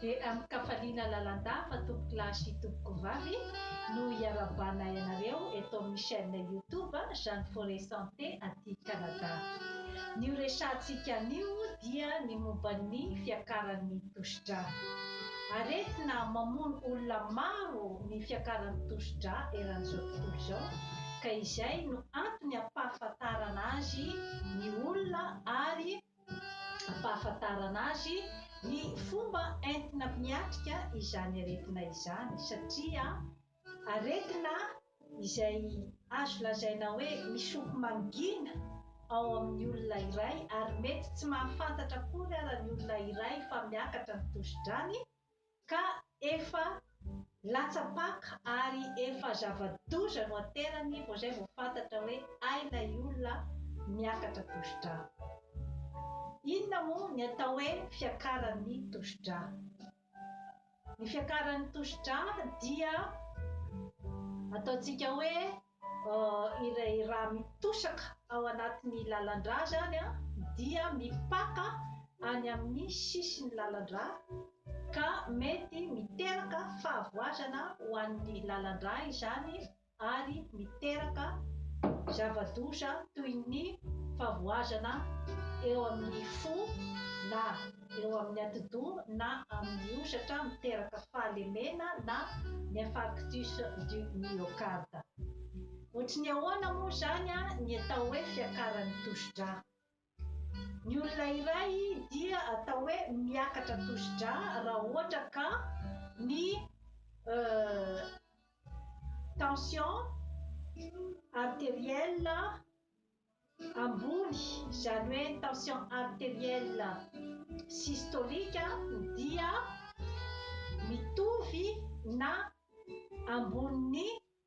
Dia amin-kafaliana lalandà fa tompokolahy sy tompokovavy no hiarahabanay anareo eto amin'ny chaîne YouTube Jeanne Forêt Santé aty Canada. Ny horesahantsika anio dia ny momba ny fiakaran'ny Tosidra. Aretina mamono olona maro ny fiakaran'ny tosidra eran'izao tontolo izao ka izay no antony ampahafantarana azy ny olona ary ampahafantarana azy ny fomba entina miatrika izany aretina izany satria Aretina izay azo lazaina hoe misoko mangina ao amin'ny olona iray ary mety tsy mahafantatra akory ara ny olona iray fa miakatra ny tosi-drany ka efa latsa-paka ary efa zava-doza no aterany vao izay vao fantatra hoe hay ilay olona miakatra tosi-drà. Inona moa ny atao hoe fiakaran'ny tosi-drà? Ny fiakaran'ny tosidra dia ataontsika hoe ilay rà mitosaka ao anatin'ny lalan-drà izany dia mipaka any amin'ny sisin'ny lalan-drà ka mety miteraka fahavoazana ho an'ny lalan-drà izany ary miteraka zava-doza toy ny favoazana eo amin'ny fo na eo amin'ny atidoha na amin'ny hosatra miteraka fahalemena na ny infarctus du myocarde. Ohatry ny ahoana moa izany ny atao hoe fiakaran'ny tosidra? Ny olona iray dia atao hoe miakatra tosi-drà raha ohatra ka ny tension arteriel ambony, izany hoe ny tension arteriel systolique dia mitovy na ambonin'ny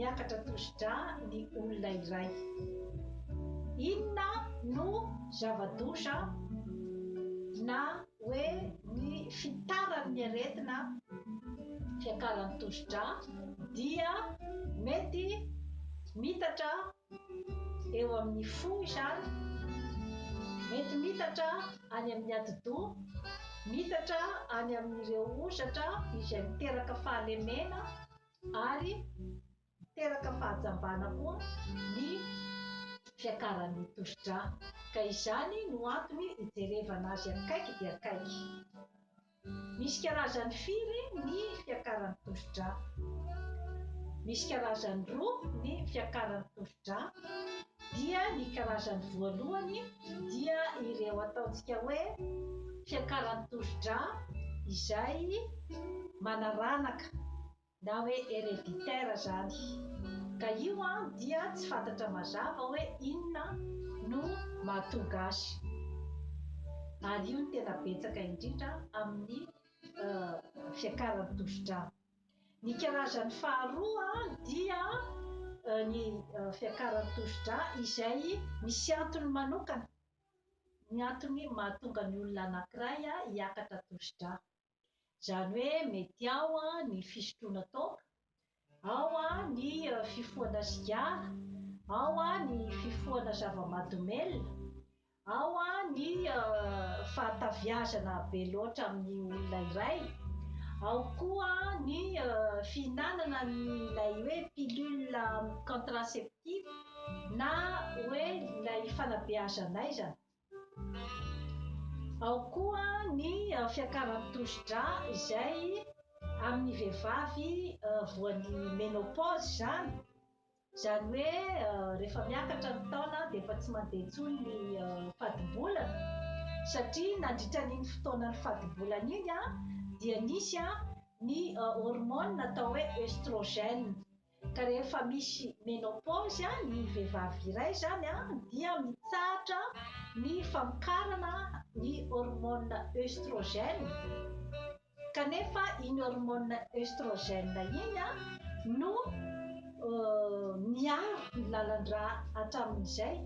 Miakatra tosidra ny olona iray. Inona no zava-doza na hoe ny fitaran'ny aretina fiakaran'ny tosidra dia mety mitatra eo amin'ny fo izany, mety mitatra any amin'ny atidoha, mitatra any amin'ireo hozatra izay miteraka fahalemena ary miteraka fahajambana koa ny fiakaran'ny tosidra ka izany no antony hijerevana azy akaiky dia akaiky. Misy karazany firy ny fiakaran'ny tosidra? Misy karazany roa ny fiakaran'ny tosidra. dra dia ny karazany voalohany dia ireo ataontsika hoe fiakaran'ny tosidra izay manaranaka na hoe hereditaire zany ka io an dia tsy fantatra mazava hoe inona no mahatonga azy ary io no tena betsaka indrindra amin'ny fiakaran'ny tosidra. Ny karazany faharoa dia ny fiakaran'ny tosidra izay misy antony manokana ny antony mahatonga ny olona anankiray hiakatra tosidra. Izany hoe mety ao ny fisotroana toaka, ao ny fifohana sigara, ao ny fifohana zava-mahadomelina, Ao ny fahataviazana be loatra amin'ny olona iray, ao koa ny fihinanana an'ilay hoe pilule contraceptive na hoe ilay fanabeazan'aiza, ao koa ny fiakaran'ny tosidra izay amin'ny vehivavy voan'ny menopause izany. Izany hoe rehefa miakatra ny taona dia efa tsy mandeha intsony ny fadimbolana satria nandritra an'iny fotoanan'ny fadimbolana iny dia nisy ny hormone atao hoe oestrogène ka rehefa misy menopause ny vehivavy iray izany dia mitsahatra ny famokarana ny hormone oestrogène. Kanefa iny hormone oestrogène iny no miaro ny lalan-drà hatramin'izay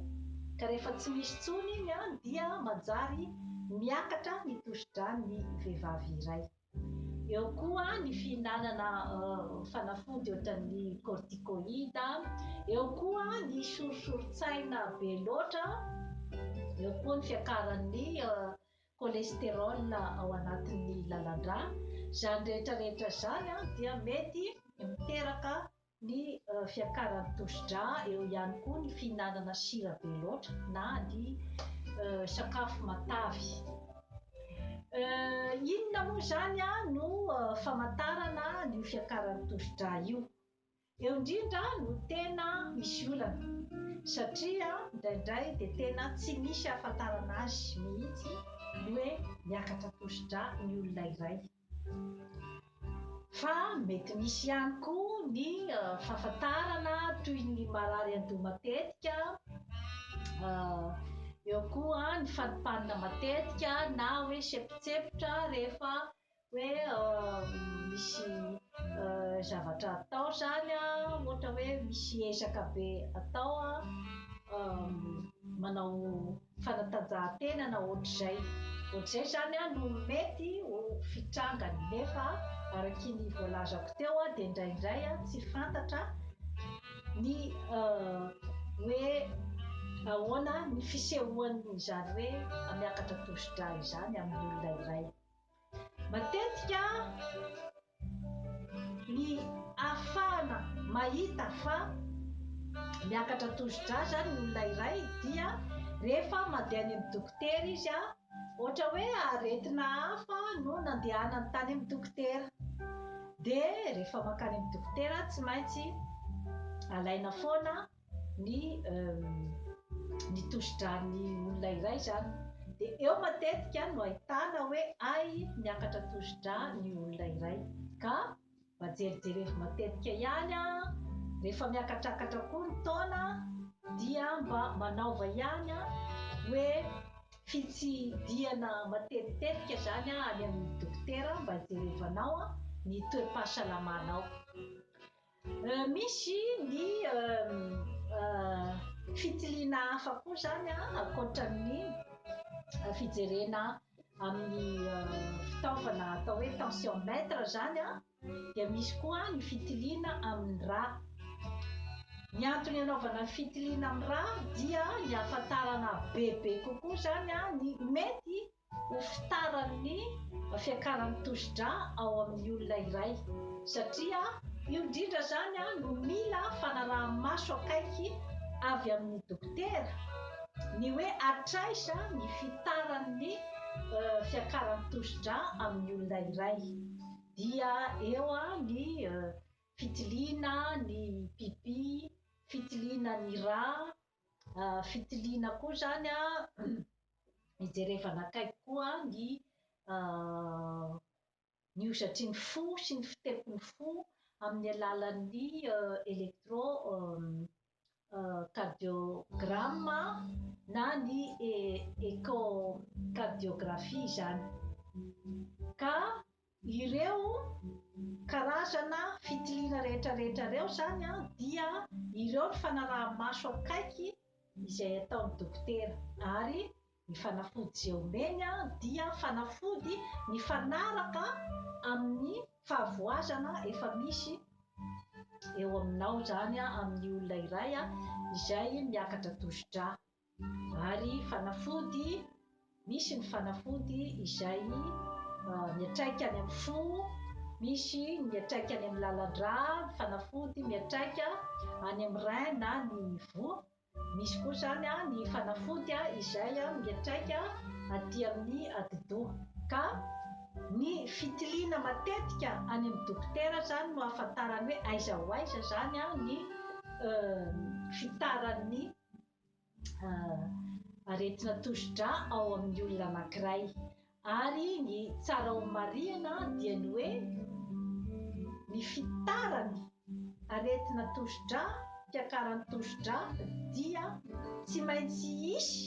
ka rehefa tsy misy intsony iny dia manjary miakatra ny tosidràn'ny vehivavy iray. Eo koa ny fihinanana fanafody ohatran'ny corticoïde, eo koa ny sorisorin-tsaina be loatra, eo koa ny fiakaran'ny cholesterol ao anatin'ny lalandrà, izany rehetra rehetra izany dia mety miteraka ny fiakaran'ny tosidrà, eo ihany koa ny fihinanana sira be loatra na ny sakafo matavy. Inona moa izany no famantarana an'io fiakaran'ny tosidrà io? Eo indrindra no tena misy olana satria indraindray dia tena tsy misy ahafantarana azy mihitsy ny hoe miakatra tosidra ny olona iray. Fa mety misy ihany koa ny fahafantarana toy ny marary an-doha matetika, eo koa ny fanipanina matetika na hoe sempotsempotra rehefa hoe misy zavatra atao zany ohatra hoe misy ezaka be atao manao fanatanjahantena na ohatr'izay ohatr'izay zany no mety ho fitrangany nefa araky ny voalazako teo dia indraindray tsy fantatra ny hoe ahoana ny fisehoan'izany hoe miakatra tosidra izany amin'ny olona iray Matetika ny ahafahana mahita fa miakatra tosi-drà izany ny olona iray dia rehefa mandeha any amin'ny dokotera izy, ohatra hoe aretina hafa no nandehanany tany amin'ny dokotera, dia rehefa mankany amin'ny dokotera tsy maintsy alaina foana ny ny tosidran'ny olona iray zany de eo matetika no ahitana hoe ay miakatra tosidra ny olona iray ka mba jerijerevo matetika ihany a rehefa miakatrakatra koa ny taona dia mba manaova ihany a hoe fitsidihana matetitetika zany a any amin'ny dokotera mba hijerevanao a ny toe-pahasalamanao Misy ny fitiliana hafa koa izany an, ankoatra ny fijerena amin'ny fitaovana atao hoe tensiomètre izany an, dia misy koa ny fitiliana amin'ny rà. Ny antony anaovana fitiliana amin'ny rà dia ny hahafantarana bebe kokoa izany an ny mety ho fitaran'ny fiakaran'ny tosidra ao amin'ny olona iray satria io indrindra izany no mila fanaraha-maso akaiky avy amin'ny dokotera ny hoe hatraiza ny fitaran'ny fiakaran'ny tosidra amin'ny olona iray dia eo ny fitiliana ny pipi, fitiliana ny ra, fitiliana koa izany an, hijerevana akaiky koa ny ny hozatry ny fo sy ny fitepon'ny fo amin'ny alalan'ny electro cardiogramme na ny echo cardiographie izany ka Ireo karazana fitiliana rehetrarehetra ireo izany dia ireo ny fanaraha-maso akaiky izay ataon'ny dokotera ary ny fanafody izay omeny dia fanafody mifanaraka amin'ny fahavoazana efa misy eo aminao izany amin'ny olona iray izay miakatra tosi-drà. Ary fanafody, misy ny fanafody izay miatraika any amin'ny fo, misy ny miatraika any amin'ny lalan-drà, fanafody miatraika any amin'ny rein na ny voa, misy koa izany ny fanafody izay miatraika aty amin'ny atidoha. Ka ny fitiliana matetika any amin'ny dokotera izany no ahafantarany hoe aiza ho aiza izany ny fitaran'ny. aretina tosidra ao amin'ny olona anankiray ary ny tsara ho marihana dia ny hoe ny fitarany aretina tosidra fiakarany tosidra dia tsy maintsy hisy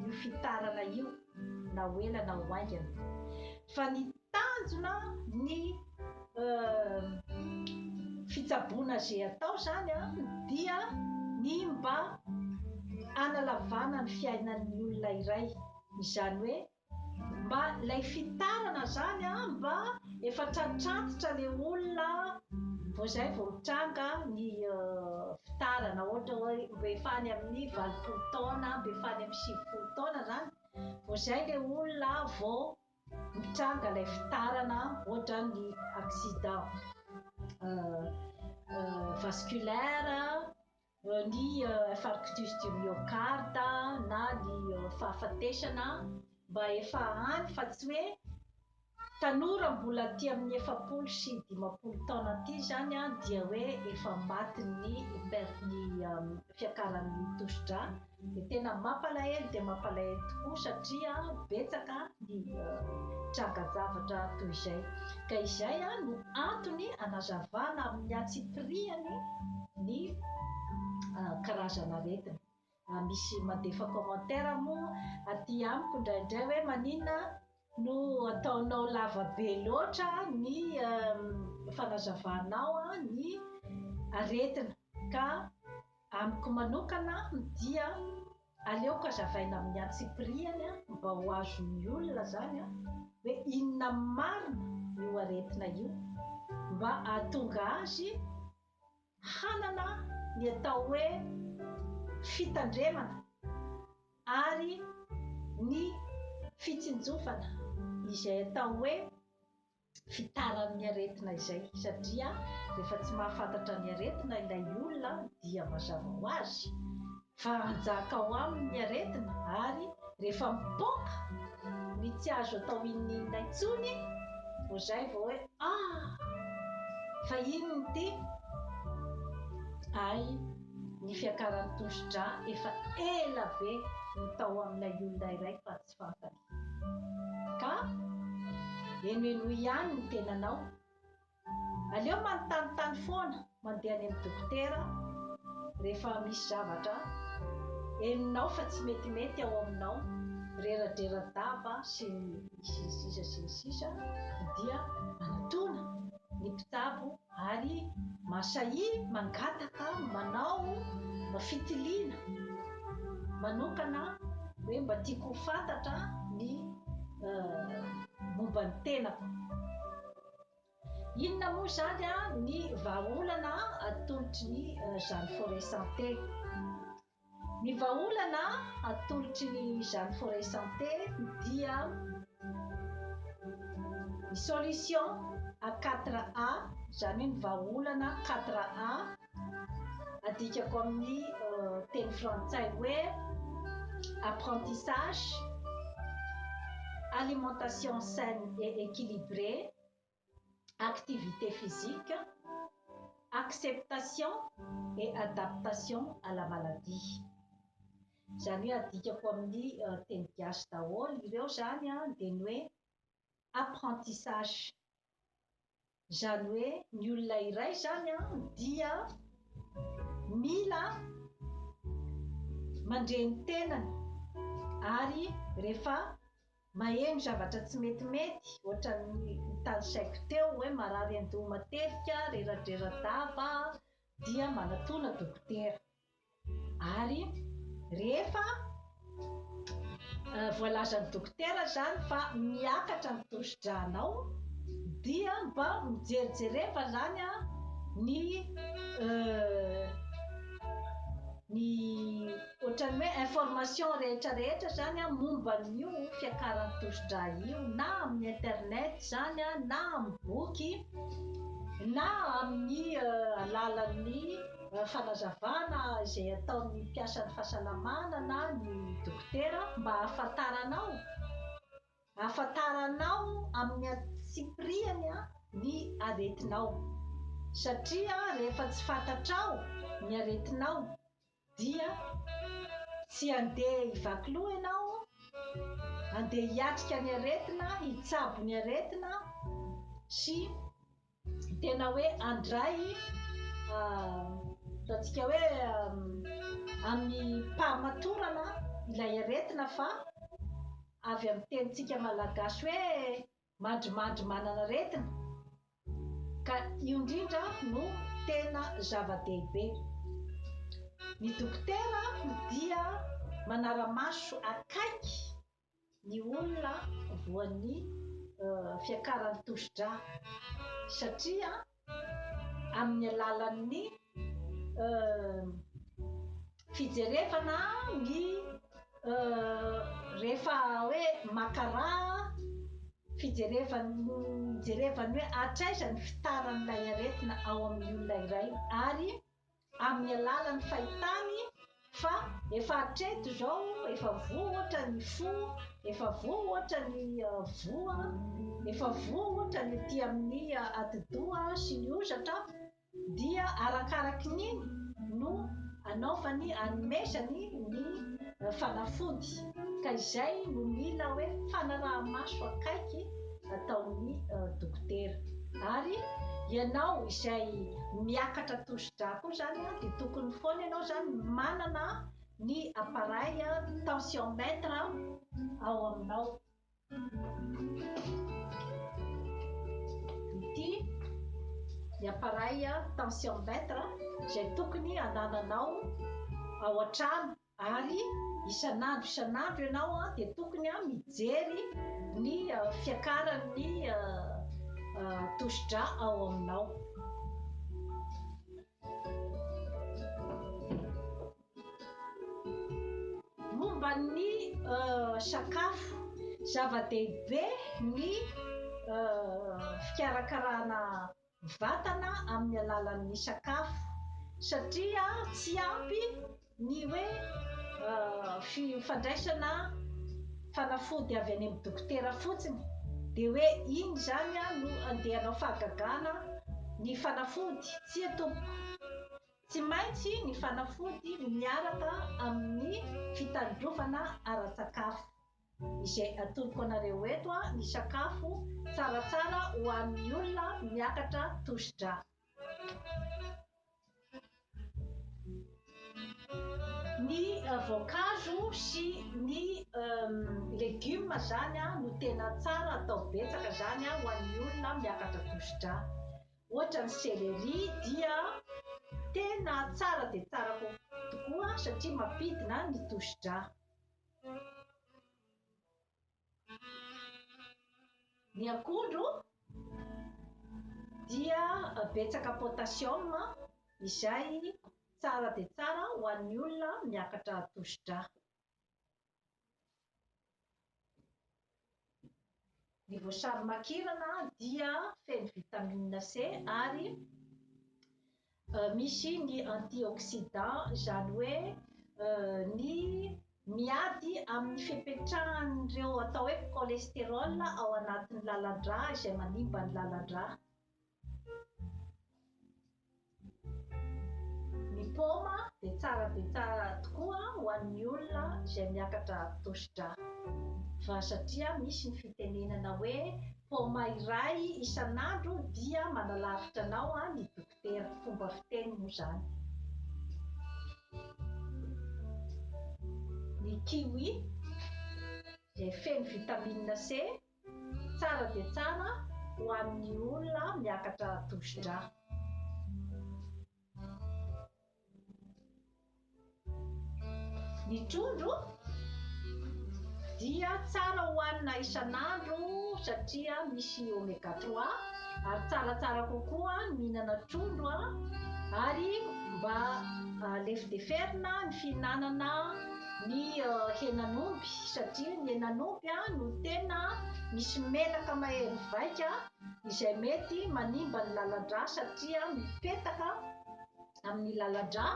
io fitarana io na ho ela na ho aingana fa ny Tanjona ny fitsaboana ze atao zany a dia ny mba analavana ny fiainan'ny olona iray izany hoe mba lay fitarana zany a mba efa tratrantitra le olona vao zay vao mitranga ny fitarana ohatra hoe mba efa any amin'ny valopolo taona mba efa any amin'ny sivifolo taona zany vao zay le olona vao Mitranga ilay fitarana ohatra ny accident vasculaire, ny infarctus du myocarde na ny fahafatesana mba efa any fa tsy hoe tanora mbola aty amin'ny efapolo sy dimampolo taona aty izany dia hoe efa matin'ny fiakaran'ny tosidra. Dia tena mampalahelo dia mampalahelo tokoa satria betsaka ny tranga-javatra toy izay. Ka izay no antony anazavana amin'ny antsipirihany ny karazan'aretina. Misy mandefa commentaire moa aty amiko indraindray hoe maninona no ataonao lava be loatra ny fanazavanao ny aretina ka Amiko manokana dia aleoko azavaina amin'ny antsipirihany mba ho azon'ny olona izany hoe inona marina io aretina io mba hahatonga azy hanana ny atao hoe fitandremana ary ny fitsinjovana izay atao hoe fitaran'ny aretina izay satria rehefa tsy mahafantatra ny aretina ilay olona dia mazava ho azy fa hanjaka ao aminy ny aretina ary rehefa mipoaka ny tsy azo atao inninona intsony vao izay vao hoe ah fa inona ity ay ny fiakaran'ny tosidra efa ela be ny tao amin'ilay olona iray fa tsy fantany Ka henohenoy ihany ny tenanao. Aleo manontanintany foana mandeha any amin'ny dokotera rehefa misy zavatra henonao fa tsy metimety ao aminao, reradrera-daba sy ny sisa sy ny sisa dia anatona ny mpitsabo Ary Masai mangataka manao fitiliana manokana hoe mba tiako ho fantatra ny momba ny tenako. Inona moa izany ny vahaolana atolotry ny zany Foret Santé? Ny vahaolana atolotry ny Jeanne Forest Santé dia ny solution à quatre A, izany hoe ny vahaolana quatre A, adikako amin'ny teny frantsay hoe apprentissage, alimentation saine et equilibrée, activité physique, acceptation et adaptation à la maladie. Izany hoe adikako amin'ny teny gasy daholo ireo izany dia ny hoe apprentissage. Izany hoe ny olona iray izany dia mila mandre ny tenany ary rehefa Maheno zavatra tsy metimety ohatran'ny notanisaiko teo hoe marary andoha matetika, reradrera-dava aho dia manatona dokotera. Ary rehefa voalazan'ny dokotera izany fa miakatra ny tosidranao dia mba mijerijereva izany aho ny ny Ohatran'ny hoe information rehetra rehetra zany momba an'io fiakaran'ny tosidra io na amin'ny internet zany na amin'ny boky na amin'ny alalan'ny fanazavana izay ataon'ny mpiasan'ny fahasalamana na ny dokotera mba hahafantaranao hahafantaranao amin'ny antsipirihany ny aretinao satria rehefa tsy fantatrao ny aretinao Dia tsy andeha hivaky loha ianao, andeha hiatrika ny aretina, hitsabo ny aretina sy tena hoe handray ataontsika hoe amim-pahamatorana ilay aretina fa avy amin'ny tenintsika malagasy hoe Mandrimandry manana aretina ka io indrindra no tena zava-dehibe. Ny dokotera dia manara-maso akaiky ny olona voan'ny fiakaran'ny tosidra satria amin'ny alalan'ny fijerevana ny rehefa hoe maka raha, fijerevana ijerevana hoe hatraiza ny fitaran'ilay aretina ao amin'ny olona iray ary amin'ny alalan'ny fahitany fa efa hatreto izao efa voa ohatra ny fo, efa voa ohatra ny voa, efa voa ohatra ny ety amin'ny atidoha sy ny hozatra, dia arakaraky ny no anaovany anomezany ny fanafody, ka izay no mila hoe fanaraha-maso akaiky ataon'ny dokotera. Ary ianao izay miakatra tosi-drà koa izany dia tokony foana ianao izany manana ny appareil tensiomètre ao aminao. Ity ny appareil tensiomètre izay tokony anananao ao an-trano. Ary isan'andro isan'andro ianao dia tokony mijery ny fiakaran'ny tosidra ao aminao. Momba ny sakafo, zava-dehibe ny fikarakarana vatana amin'ny alalan'ny sakafo satria tsy ampy ny hoe fandraisana fanafody avy any amin'ny dokotera fotsiny dia hoe iny izany no andeha hanao fahagagana ny fanafody, tsia tompoko! Tsy maintsy ny fanafody miaraka amin'ny fitandrovana ara-tsakafo. Izay atoroko anareo eto ny sakafo tsaratsara ho an'ny olona miakatra tosi-drà. Ny voankazo sy ny legioma izany no tena tsara atao betsaka izany ho an'ny olona miakatra tosi-drà. Ohatra ny céléri dia tena tsara dia tsara kokoa tokoa satria mampidina ny tosi-drà. Ny akondro dia betsaka potassium izay tsara dia tsara ho an'ny olona miakatra tosidra. Ny voasary makirana dia feno vitamine C ary misy ny antioxydant izany hoe ny miady amin'ny fipetrahan'ireo atao hoe cholesterol ao anatin'ny lalan-dra izay manimba ny lalan-dra. Ny paoma dia tsara dia tsara tokoa ho an'ny olona izay miakatra tosidra fa satria misy ny fitenenana hoe paoma iray isan'andro dia manalavitra anao ny dokotera, fomba fiteny moa izany. Ny kiwi izay feno vitamine C Tsara dia tsara ho an'ny olona miakatra tosidra. Ny trondro dia tsara hohanina isan'andro satria misy oméga trois ary tsaratsara kokoa ny mihinana trondro ary mba lefideferina ny fihinanana ny henan'omby satria ny henan'omby no tena misy menaka mahery vaika izay mety manimba ny lalan-drà satria mipetaka amin'ny lalan-drà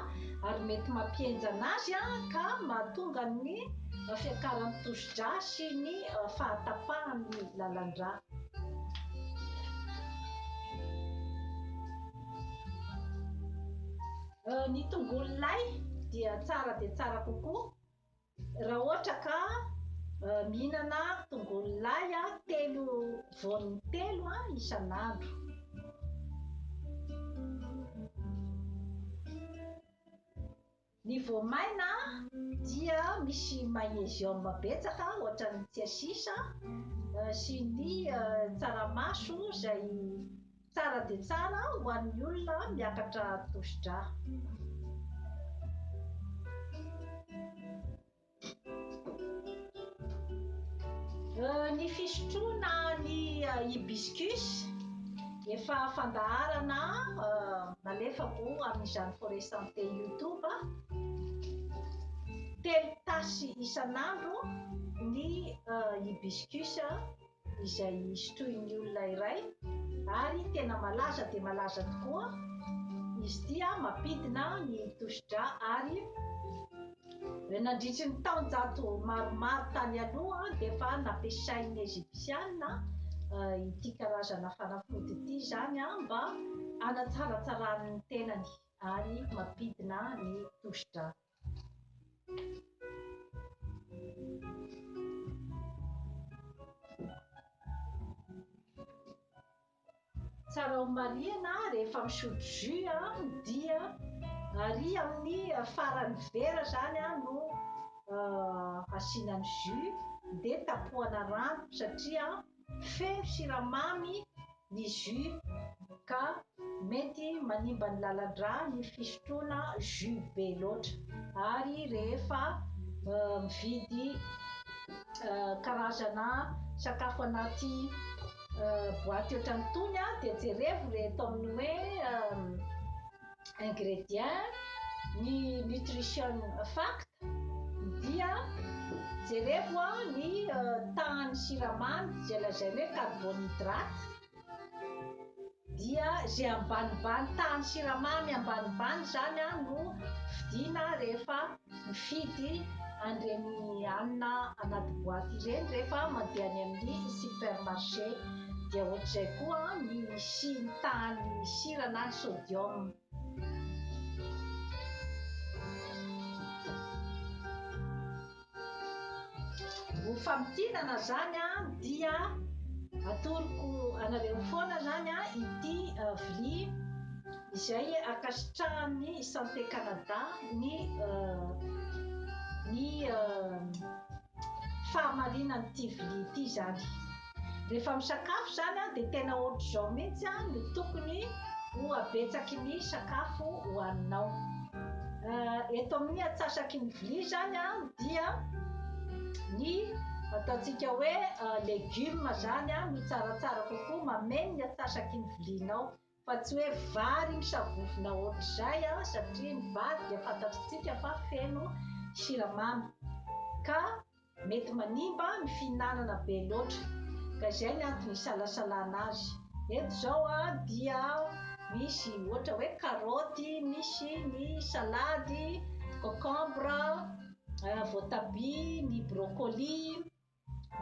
ary mety mampihenjana azy ka mahatonga ny fiakaran'ny tosi-drà sy ny fahatapahan'ny lalan-drà. Ny tongolo lay dia tsara dia tsara kokoa raha ohatra ka mihinana tongolo lay telo voany telo isan'andro. Ny voamaina dia misy magnésium betsaka ohatran'ny tsiasisa sy ny tsaramaso izay Tsara dia tsara ho an'ny olona miakatra tosidra. Ny fisotroana ny hibiscus efa fandaharana nalefako amin'izany Forêt Santé YouTube, telo tasy isan'andro ny hibiscus. izay sotroin'ny olona iray ary tena malaza dia malaza tokoa izy ity a mampidina ny tosidra ary nandritry ny taonjato maromaro tany aloha dia efa nampiasain'ny Ejipsiana ity karazana fanafody ity izany a mba hanatsaratsarany ny tenany ary mampidina ny tosidra. Tsara ho marihina, rehefa misotro jus an, dia ary amin'ny faran'ny vera izany an no asiana ny jus dia tapohana rano satria Feno siramamy ny jus ka mety manimba ny lalan-drà ny fisotroana jus be loatra ary rehefa mividy karazana sakafo anaty boaty ohatran'itony dia jerevo ilay ataon'ny hoe ingrédients ny nutrition fact dia jerevo ny tahan'ny siramamy izay lazaina hoe carbonhydrate dia izay ambanimbany tahan'ny siramamy ambanimbany izany no fidiana rehefa Mifidy an'ireny hanina anaty boaty ireny rehefa mandeha any amin'ny supermarché. Dia ohatr'izay koa ny sy ny tahan'ny sira na ny sodium. Ho famintinana izany dia atoroko anareo foana izany ity vilia. izay ankasitrahan'ny Santé Canada ny ny fahamarinan'ity vilia ity izany. Rehefa misakafo izany dia tena ohatr'izao mihitsy no tokony ho habetsaky ny sakafo hohaninao. Eto amin'ny atsasaky ny vilia izany dia ny ataontsika hoe legioma izany no tsaratsara kokoa, mameno ny atsasaky ny vilianao. Fa tsy hoe vary iny savovona hoatr'izay an, satria ny vary dia fantatritsika fa feno siramamy ka mety manimba ny fihinanana be loatra, ka izay ny antony isalasalana azy. Eto izao an dia misy ohatra hoe karaoty, misy ny salady, cocombre, voatabia, ny broccoli.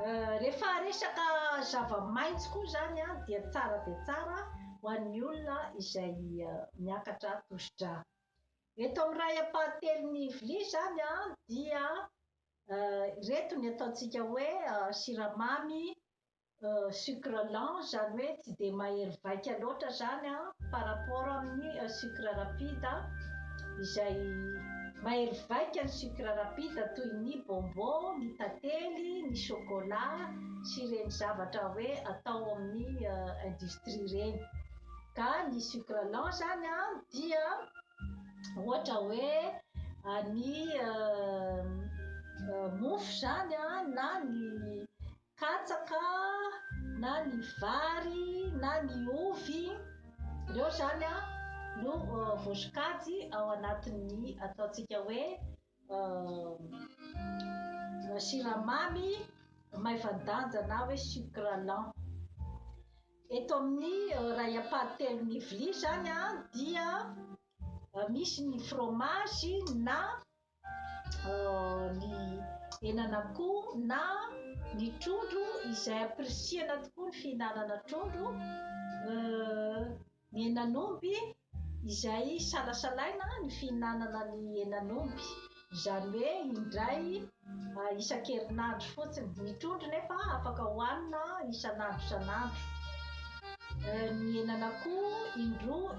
Rehefa resaka zava-maitso koa izany dia tsara dia tsara ho an'ny olona izay miakatra tosi-drà. Eto amin'ny iray ampahatelon'ny vilia izany dia ireto ny ataontsika hoe siramamy, sucre lent, izany hoe tsy dia mahery vaika loatra izany an, par rapport amin'ny sucre rapide izay. Mahery vaika ny sucre rapide toy ny bonbon, ny tantely, ny chocolat sy ireny zavatra hoe atao amin'ny industrie ireny. Ka ny sucre lent izany dia ohatra hoe ny mofo izany na ny Katsaka na ny vary na ny ovy, ireo izany no voasokajy ao anatin'ny ataontsika hoe siramamy maivan-danja na hoe sucre lent. Eto amin'ny iray ampahany telon'ny vilia izany dia misy ny fromage na ny henan'akoho na ny trondro izay ampirisihana tokoa ny fihinanana trondro ny henan'omby izay salasalaina ny fihinanana ny henan'omby izany hoe indray isan-kerinandro fotsiny ny trondro nefa afaka hohanina isan'andro isan'andro ny henan'akoho indroa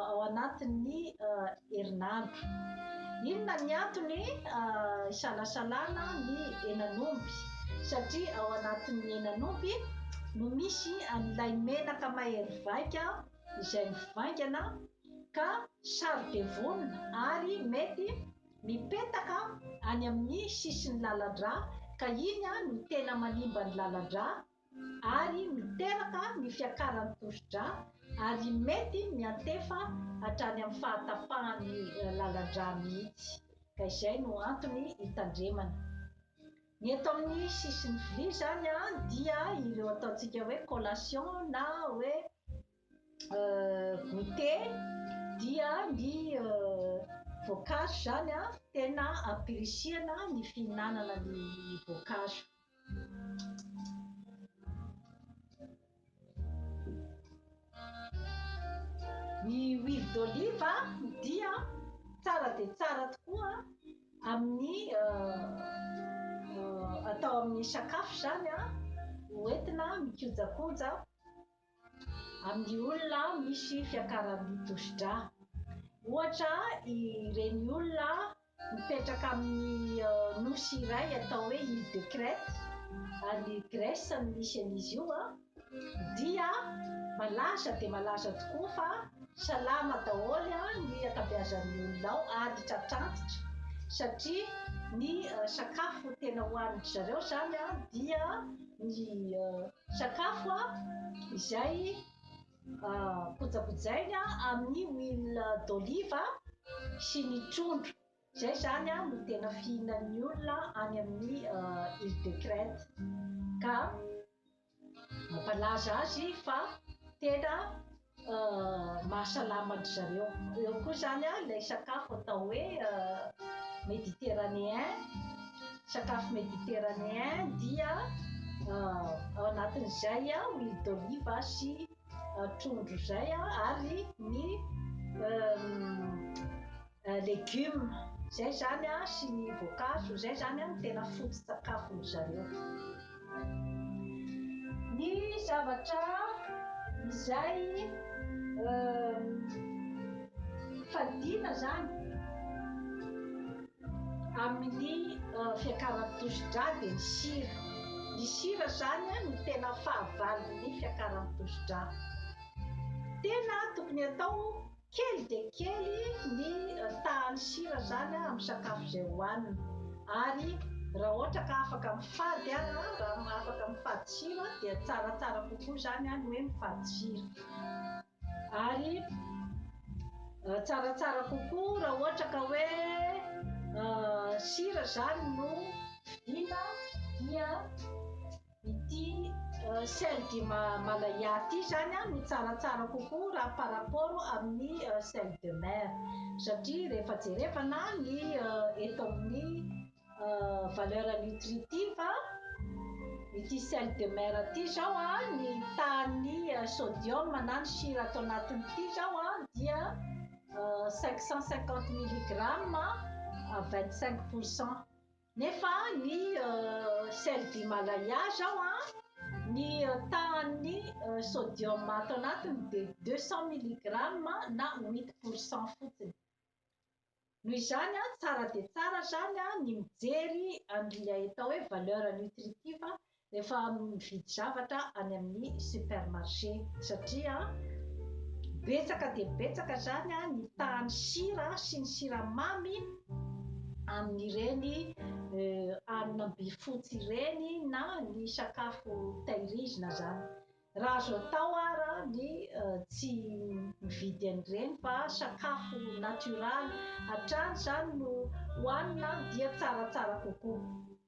ao anatin'ny herinandro. Inona ny antony isalasalana ny henan'omby? Satria ao anatin'ny henan'omby no misy an'ilay menaka mahery vaika izay mivaingana ka saro-devonina ary mety mipetaka any amin'ny sisin'ny lalan-drà ka iny no tena manimba ny lalan-drà ary miteraka ny fiakaran'ny tosidra ary mety miantefa hatrany amin'ny fahatapahan'ny lalan-dra mihitsy ka izay no antony hitandremana ny eto amin'ny sisin'ny vilia izany dia ireo ataontsika hoe collation na hoe goûté dia ny voankazo izany an tena ampirisihana ny fihinanana ny voankazo. Ny huile d'olive dia tsara dia tsara tokoa amin'ny atao amin'ny sakafo izany an, hoentina mikojakoja. amin'ny olona misy fiakaram-by tosidra. Ohatra, ireny olona mipetraka amin'ny nosy iray atao hoe Ile de Crète, any Grèce no misy an'izy io, dia malaza dia malaza tokoa fa salama daholo ny ankabeazan'ny olona ao ary tratr'antitra satria ny sakafo tena hohanin-dry zareo izany dia ny Sakafo izay kojakojaina amin'ny huile d'olive sy ny trondro. Izay izany no tena fihinan'ny olona any amin'ny Ile de Crète. Ka mampalaza azy fa tena mahasalama an-dry zareo. Eo koa izany ilay sakafo atao hoe méditerranéen, sakafo méditerranéen dia ao anatin'izay huile d'olive sy trondro izay ary ny Legumes, izay izany an, sy ny voankazo, izay izany an no tena foto-tsakafon'ny zareo. Ny zavatra izay fadiana izany amin'ny fiakaran'ny tosi-drà dia ny sira. Ny sira izany an no tena fahavalon'ny fiakaran'ny tosi-drà. Tena tokony atao Kely dia kely ny tahan'ny sira izany amin'ny sakafo izay hohanina ary raha ohatra ka afaka mifady aza, raha afaka mifady sira dia tsaratsara kokoa izany ny hoe mifady sira. Ary tsaratsara kokoa raha ohatra ka hoe sira izany no vidiana dia Ity celle du Malaya ity zany an no tsaratsara kokoa raha par rapport amin'ny celle de mer satria rehefa jerevana ny eto amin'ny valeur nutritive ity celle de mer ity zao an ny tahan'ny sodium na ny sira ato anatin'ity zao an dia 550 milligramme à 25 pourcent. Nefa ny sel d'Himalaya zao an, ny tahan'ny sodium ato anatiny dia deux cent milligrammes na huit pour cent fotsiny. Noho izany an, tsara dia tsara zany an ny mijery an'ilay atao hoe valeur nutritive Efa mividy zavatra any amin'ny supermarché satria betsaka dia betsaka izany ny tahan'ny sira sy ny siramamy amin'ireny hanina mbifotsy ireny na ny sakafo tahirizina izany. Raha azo atao ara ny tsy mividy an'ireny fa sakafo natioraly hatrany izany no hohanina dia tsaratsara kokoa.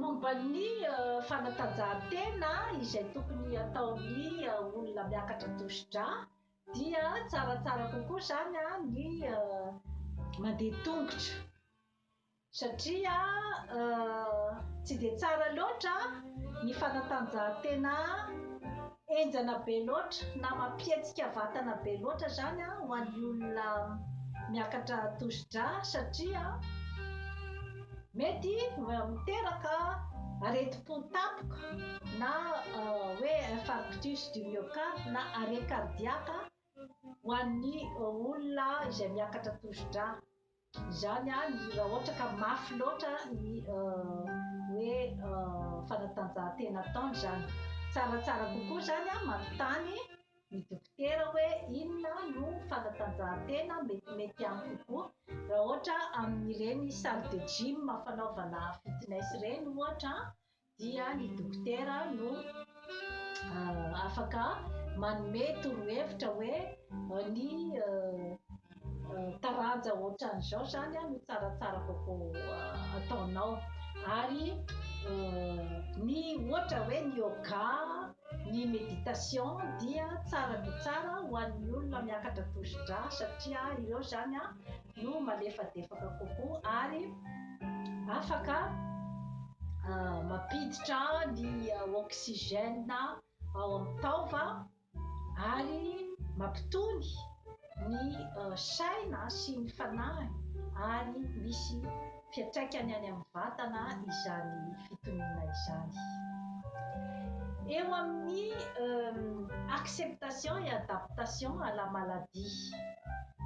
Momba ny fanatanjahantena izay tokony ataon'ny olona miakatra tosidra dia tsaratsara kokoa izany ny mandeha tongotra satria tsy dia tsara loatra ny fanatanjahantena Enjana be loatra na mampihetsika vatana be loatra zany ho an'ny olona miakatra tosidra satria mety miteraka aretim-po tampoka na hoe infarctus du myocarde na arrêt cardiaque ho an'ny olona izay miakatra tosidra. Izany àry raha ohatra ka mafy loatra ny hoe fanatanjahantena ataony izany. Tsaratsara kokoa izany manontany ny dokotera hoe inona no fanatanjahantena metimety amiko kokoa. Raha ohatra amin'ireny salle de gym fanaovana fitness ireny ohatra dia ny dokotera no afaka manome torohevitra hoe ny taranja ohatran'izao izany no tsaratsara kokoa ataonao ary ny ohatra hoe ny yoga ny méditation dia tsara dia tsara ho an'ny olona miakatra tosidra satria ireo izany Io malefadefaka kokoa ary afaka mampiditra ny oxygène ao amin'ny taova ary mampitony ny saina sy ny fanahiny ary misy Fiantraikany any amin'ny vatana izany fitoniana izany. Eo amin'ny acceptation et adaptation à la maladie,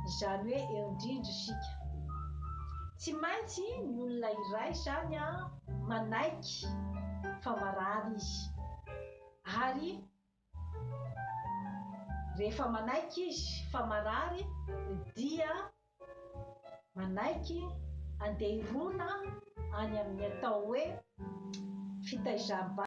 izany hoe eo indrindra isika. Tsy maintsy ny olona iray izany manaiky fa marary izy, ary Rehefa manaiky izy fa marary dia manaiky andeha hirona any amin'ny atao hoe fitaizam-bahoaka.